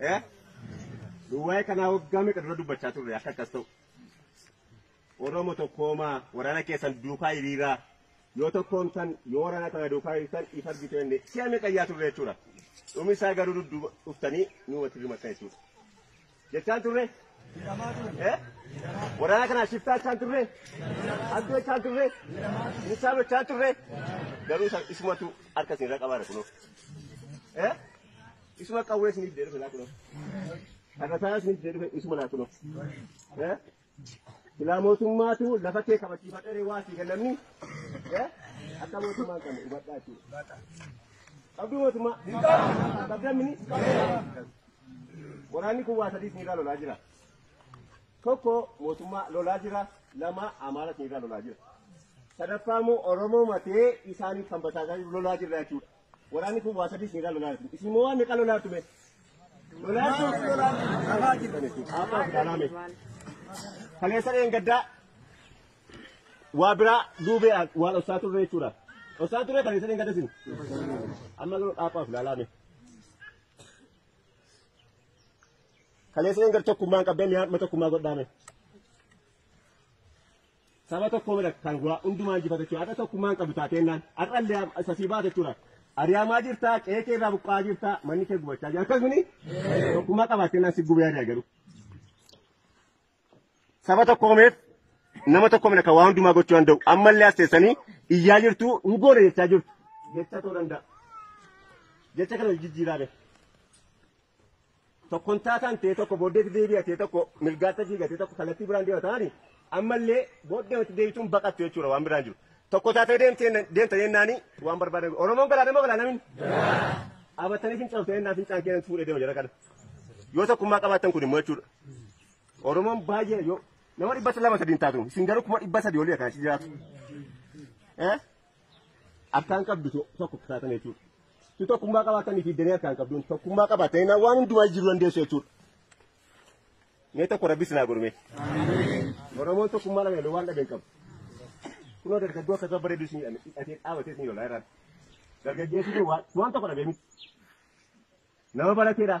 Eh? Duwwaa'ee kanaa waggaa meeqa dura dubbachaa turre akka akkas ta'u. Oromo tokkoomaa waraana keessan duukaa hiriiraa yoo tokkoon tan yoo waraana kana duukaa hiriirtan if argitu inni si'a meeqa iyyaa turre jechuudha. Dhumi isaa garuu dudduuba dhuftanii nu walitti dirmatan jechuudha. Jechaan turre? Waraana kanaa shiftaa jechaan turre? Hattuu jechaan turre? Insaanoo jechaan turre? Garuu isa- isumatu harka isin irra qabaara kunoo. Eh? Isuma qawwee isiniif deebisu laa kunoo. Dhagataa isiniif deebisu isuma laa kunoo. Eh? Silaa mootummaatu lafa kee kabachiifatee waa sii kennamni akka mootummaan kan hubadhaa jechuudha. Qabduu mootummaa. Qabdan mini. Waraanni kun waa sadii sinirraa lolaa jira. Tokko mootummaa lolaa jira. Lama amaara sinirraa lolaa jira. Sadaffaa immoo Oromoo matee isaaniif kan basaasaa jiru lolaa jirra jechuudha. Waraanni kun waa sadii singaa lolaa jirtu. Isin immoo waan meeqa lolaa jirtu mee? Lolaa jirtu lolaa jirtu. Qabaa jirtu jechuudha. Abbaa fi dhalaa mee? Kaleessa dheen gaddaa waa biraa duubee waan ossaa turre jechuudha. Ossaa turre kaleessa dheen gadda isin. Amma garuu dhaabaa fi dhalaa mee? Kaleessa dheen gadda tokkummaan qabdee mi'aan tokkummaa godhaa mee? Saba tokko mira kan waa hundumaa injifata jechuudha. Har'a tokkummaan qabdu taateennaan har'allee isa sii baate jechuudha. Ari'amaa jirtaa, qe'ee kee irraa buqqa'aa jirtaa, manni kee gubachaa jira. Akkasumni tokkummaa qabaateennaan si gubee ari'a garuu. Saba tokko meef nama tokko mira kan waa hundumaa gochuu danda'u. Ammallee as teessanii iyyaa jirtu hin goone jechaa jirtu. Jecha ta'uu danda'a. Jecha kana jijjiiraa beeku. tokkontaa kan ta'e tokko booddeetti deebi'a ta'e tokko mirgaatti fiiga ta'e tokko kallattii biraan deema ta'ani ammallee booddee itti deebituun baqattu jechuudha waan biraan jiru. Tokko taatee deemtee deemta jennaani waan barbaadan Oromoon galaana moo galaana min? Abattanii fincooftee jennaan fincaan keenan fuudhee deema jara kana. Yoo tokkummaa qabaattan kun immoo jechuudha. Oromoon baay'ee yoo nama dhibba lama sadiin taatu isin garuu kuma dhibba sadii olii akkanatti jiraatu. Eh? Harkaan qabdu tokko taatan jechuudha. Tu tokkummaa qabaatanii fi danee harkaan qabduun tokkummaa qabaatanii na waan hundumaa jiru dandeessu jechuudha. Mee tokko rabbi sinaa godhume. Oromoon tokkummaa dhabee waan dhabeen qabu. Kunoo dargaggoo akka ta'u bareedu isin hidhatee dhaabatee isin lolaa irraa. Dargaggeessi kun waan tokko dhabee miti. Nama barateedha.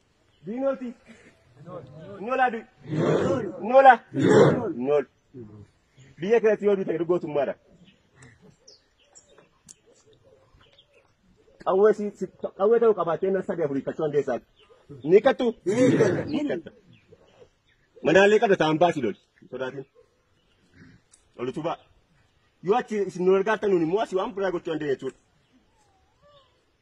Diinoti. Nola du. Nola. Nol. Biyya kanatti yoo duute gootummaadha. Qawwee si si- qawwee ta'uu qabaatee na sadii afurii kachuu handeessaan. Ni kattu. Ni katta. Manaalee qabda ta'an baasi lol. Sodaatiin. Ol utubaa. Yoo achi isin nu argaatan nuun immoo asii waan biraa gochuu handeenya jechuudha.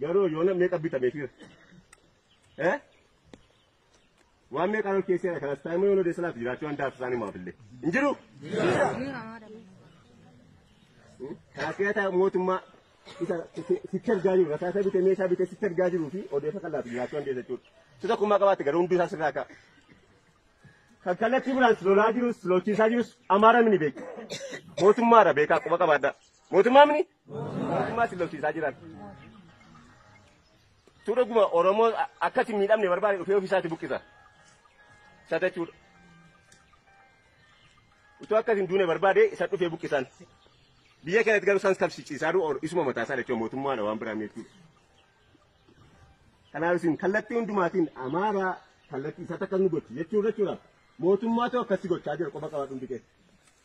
Garuu yoona meeqa bitame fiira? Eh? Waan meeqa ol keessee dha kanas taa'immoo yoona deessa laatu jiraachuu waan daatu isaanii maaf illee. Hin jiru? Kanas yaa taa'u mootummaa isa sitti argaa jiru rasaasa bitee meeshaa bitee sitti argaa jiruu fi odeessa kan laatu jiraachuu waan deessa jechuudha. Si tokkummaa qabaate garuu hundi isaa sirraa ka'a. Kan kallattii biraan lolaa jirus lolchiisaa jirus amaara ni beeku. Mootummaadha beekaa quba qabaadhaa. Mootummaa mini? Mootummaa si lolchiisaa jiran. Tu dhuguma Oromoo akkatti miidhamne barbaade dhufee ofiisaatti buqqisa. Isa jechuudha. Utuu akkas hin duune barbaade isa dhufee buqqisan. Biyya kanatti garuu isaan kabsichiisaa jiru isuma mataa isaa jechuudha mootummaadha waan biraa jechuudha. Kanaaf isin kallattii hundumaatiin amaaraa kallattii isa takka nu gochi jechuudha jechuudha. Mootummaatu akkasii gochaa jira qofa qabaa dhundi keessa.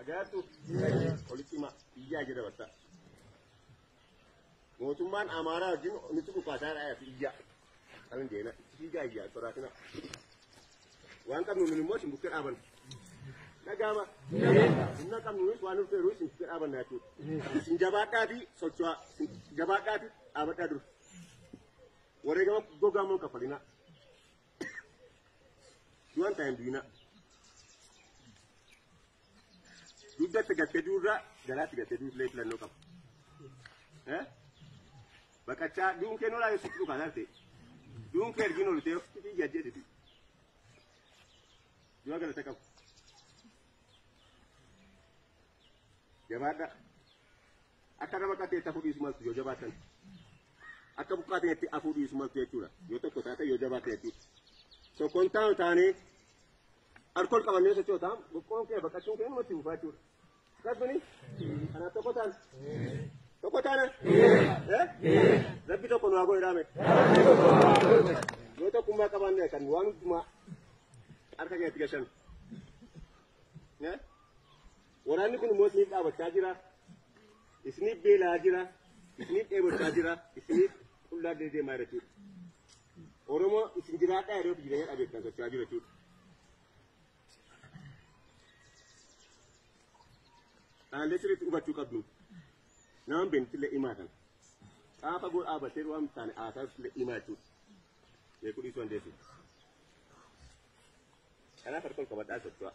Ajaa'ibtu walitti hima iyyaa jedha batta. Mootummaan Amaaraa wajjin nutti dhukaasaa dha fi iyyaa. Kan hin deena itti fiigaa iyyaa soraatina. Waan qabnu nun immoo isin bukkee dhaabanna. Dhagaama. Humna qabnu nunis waan nuuf feeruu isin bukkee dhaabanna jechuudha. Isin jabaadhaa fi socho'aa. Isin jabaadhaa fi dhaabadhaa dura. Wareegama gogaa immoo hin kaffalinaa. du'an ta'an du'ina dugdatti gattee duurraa garaatti gattee duurlee filannoo qaba. Eh? Baqachaa duun kee nolaa yoo sitti dhukaa lalte duun kee ergin olitee of fitii jajjeesiti. Du'a galata qabu. Jabaadha. Akka nama qateetta fudhiisu maltu yoo jabaatan. Akka buqqaa ta'etti afuu dhiisu maltu jechuudha. Yoo tokko taate yoo jabaa ta'etti. Tokkoon taanu taanee alkool qabannee sochoota boqqoon kee baqachuun kee namatti buufaa jechuudha. Akkasumani kanaaf tokko taana. Tokko taana. Rabbi tokko nu haa godhe dhaame. Yoo tokkummaa qabaanne kan waan hundumaa harka keessatti gashan. Waraanni kun immoo isiniif dhaabachaa jira, isiniif beela'aa jira, isiniif dheebochaa jira, isiniif qullaa deemaa jira jechuudha. Oromoo isin jiraadhaa yeroo jireenya dhabeettan socho'aa jira jechuudha. Dhaalee sirriitti hubachuu qabdu. Nama beektillee himaa kana. Xaafa gol dhaabatee waan hin taane haasaasillee himaa jechuudha. Beekuu dhiisuu dandeessu. Kanaaf harka ol qabadhaa socho'aa.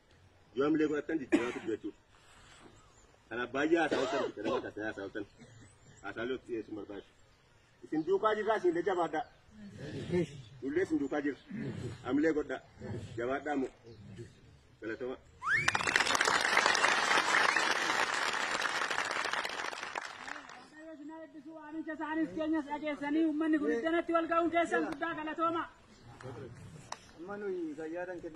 Yoo hamilee godhattan jijjiiramaa turte jechuudha. Kanaaf baay'ee haasawatan itti nama taasisa haasawatan. Haasaalee itti dhiyeessuun barbaadu. Isin duukaa jirraa isin illee jabaadhaa. Nullee isin duukaa jirra. Hamilee godhaa. Jabaadhaa moo. Galatama. Waamicha isaaniis keenyas dhageessanii uummanni kun iddanatti wal ga'uun keessan guddaa galatooma. Amma nuyi fayyaadhaan kenna.